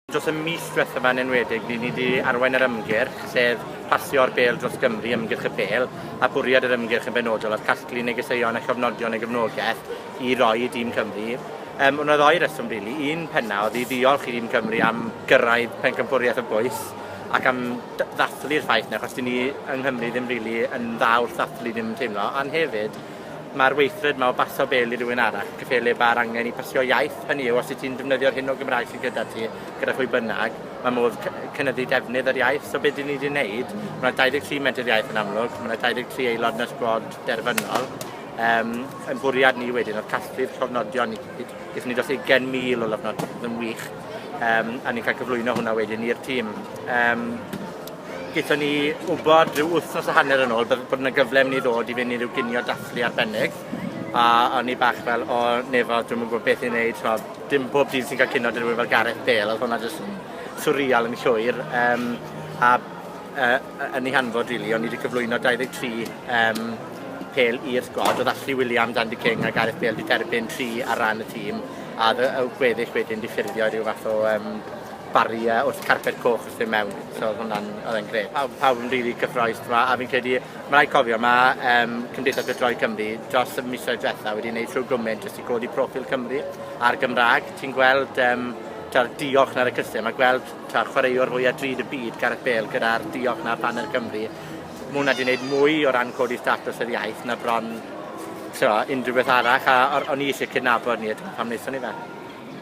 Dros y mis diwethaf yma'n enwedig, ni ni wedi arwain yr ymgyrch, sef pasio'r bêl dros Gymru, ymgyrch y bêl, a bwriad yr ymgyrch yn benodol oedd casglu negeseuon a chofnodion y gefnogaeth i roi i dîm Cymru. Um, Yna ddoi reswm, rili. Really. Un penna oedd i ddiolch i dîm Cymru am gyrraedd pencampwriaeth y bwys, ac am ddathlu'r ffaith na, achos dyn ni yng Nghymru ddim rili really yn dda wrth ddathlu ddim yn teimlo, ond hefyd Ma'r weithred 'ma o baso bel i rywun arall, cyffelyb ma'r angen i basio iaith, hynny yw os wyt ti'n defnyddio'r hyn o Gymraeg sy gyda ti, gyda phwy bynnag, ma' modd cy- yy cynyddu defnydd yr iaith. So be' 'dyn ni 'di neud, ma' 'na dau ddeg tri Menter Iaith yn amlwg, ma' 'na dau ddeg tri aelod yn y sgwad derfynol, yym, 'yn bwriad ni wedyn odd casglu'r llofnodion i gyd, gethon ni dros ugen mil o lofnod- yn wych, yym, a ni'n ca'l cyflwyno hwnna wedyn i'r tîm. Yym. Gaethon ni wybod rhyw wythnos a hanner yn ôl bydde- bod 'na gyfle myn' i ddod i fyn' i ryw ginio dathlu arbennig a o'n i bach fel o 'ne fo dwi'm yn gwbo beth i neud t'mo' dim pob dydd ti'n ca'l cinio 'da rywun fel Gareth Bale odd hwnna jyst yn swreal yn llwyr yym a yy yy yn 'i hanfod rili o'n i 'di cyflwyno dau ddeg tri yym pêl i'r sgwad odd Ashley Williams, Andy King a Gareth Bale 'di derbyn tri ar ran y tîm a odd y y gweddill wedyn 'di ffurfio ryw fath o yym baria wrth carped coch wrth fyn mewn. So odd hwnna'n odd e'n grêt. Pawb pawb yn rili cyffroes t'mo' a fi'n credu ma' raid cofio ma' yym Cymdeithas Bydroi Cymru dros y misoedd dwetha wedi neud shwd gwment jyst i godi proffil Cymru a'r Gymra'g. Ti'n gweld yym t'wod y diolch 'na ar y cyfrif a gweld t'o' chwaraewr fwya drud y byd Gareth Bale gyda'r diolch 'na ar baner Cymru ma' wnna 'di neud mwy o ran codi statws yr iaith na bron t'mo' unrhyw beth arall a o- o'n i isie cydnabod 'ny a dyna pam nethon ni fe.